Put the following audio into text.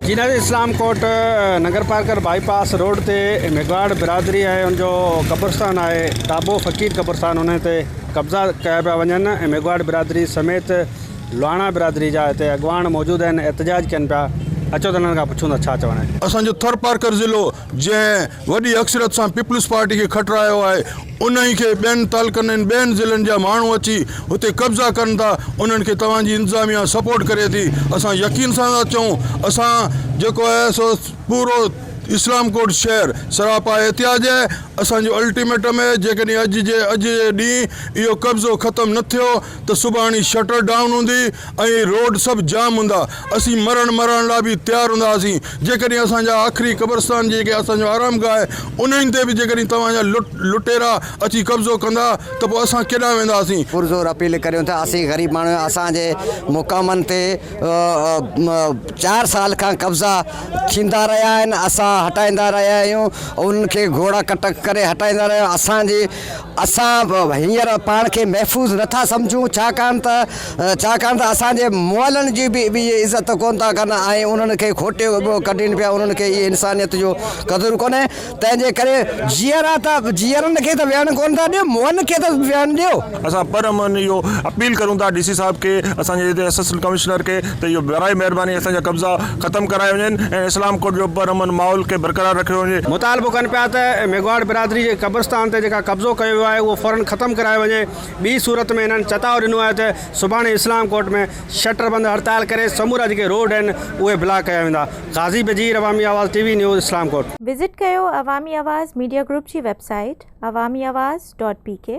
Jinnah Islamkot Nagarparkar bypass road تي ميگھواڙ برادري ۽ ان جو قبرستان آهي ٽابو فقير قبرستان انهي تي قبضا ڪيا پيا وڃن ۽ ميگھواڙ برادري سميت لواڻا برادري جا هتي اڳواڻ موجود آهن احتجاج ڪين پيا اچو ته انهن کان پڇون ٿا ڇا چوڻ آهي. اسان جو ٿرپارڪر ضلعو جنهن وڏي اڪثريت سان پيپلز پارٽي کي کٽرايو آهي انهي کي ٻين تعلقن ۽ ٻين ضلعن جا ماڻهو اچي هتي قبضا ڪن ٿا انهن کي توهان جي انتظاميا سپورٽ ڪري ٿي اسان يقين سان ٿا چئون اسان جيڪو آهي سو پورو اسلام ڪوٽ شهر سراپا احتياج آهي اسان جو الٽيميٽم آهي جيڪڏهن اڄ جي اڄ جي ڏينهن اهو قبضو ختم نه ٿيو ته سڀاڻي شٽر ڊائون هوندي ۽ روڊ سڀ جام هوندا. اسين مرڻ مارڻ لاء به تيار هوندا هئاسين. جيڪڏهن اسان جا آخري قبرستان جيڪي اسان جو آرام گاهه آهي انهن تي به جيڪڏهن توهان جا لٽيرا اچي قبضو ڪندا ته پوء اسان ڪيڏانهن وينداسين؟ پرزور اپيل ڪريون ٿا اسين غريب ماڻهو آهيون اسان جي مقامن تي چار سال کان قبضا ٿيندا رهيا آهن اسان هٽائيندا رهيا آهيون انهن کي گهوڙا ڪٽڪ ڪري هٽائيندا رهيا آهيون اسان جي اسان هينئر پاڻ کي محفوظ نه ٿا سمجهون، ڇاڪاڻ ته ڇاڪاڻ ته اسان جي مئلن جي به اهي عزت ڪونه ٿا ڪن ۽ انهن کي کوٽي ڪڍين پيا، انهن کي اهي انسانيت جو قدر ڪونهي، تنهن جي ڪري جيئرا ته جيئرن کي ته ويهڻ ڪونه ٿا ڏيو، مئن کي ته ويهڻ ڏيو. اسان پرامن اهو اپيل ڪريون ٿا ڊي سي صاحب کي، اسان جي ايس ايس ڪمشنر کي، ته اهو براهه مهرباني اسان جا قبضا ختم ڪرايا وڃن ۽ اسلام ڪوٽ جو پر امن ماحول کي برقرار رکيو وڃي. مطالبو ڪن پيا ته ميگهواڙ برادري جي قبرستان تي جيڪا قبضو ڪيو ويو آهي اهو فورن ختم ڪرايو وڃي، ٻي صورت ۾ هنن چتاء ڏنو آهي ته سڀاڻي اسلام ڪوٽ ۾ شٽر بند هڙتال ڪري سمورا جيڪي روڊ آهن اهي بلاڪ ڪيا ويندا. غازي Bajir Awami Awaz T V news Islamkot. Visit ڪيو عوامي آواز ميڊيا گروپ جي website Awami Awaz dot بي ڪي.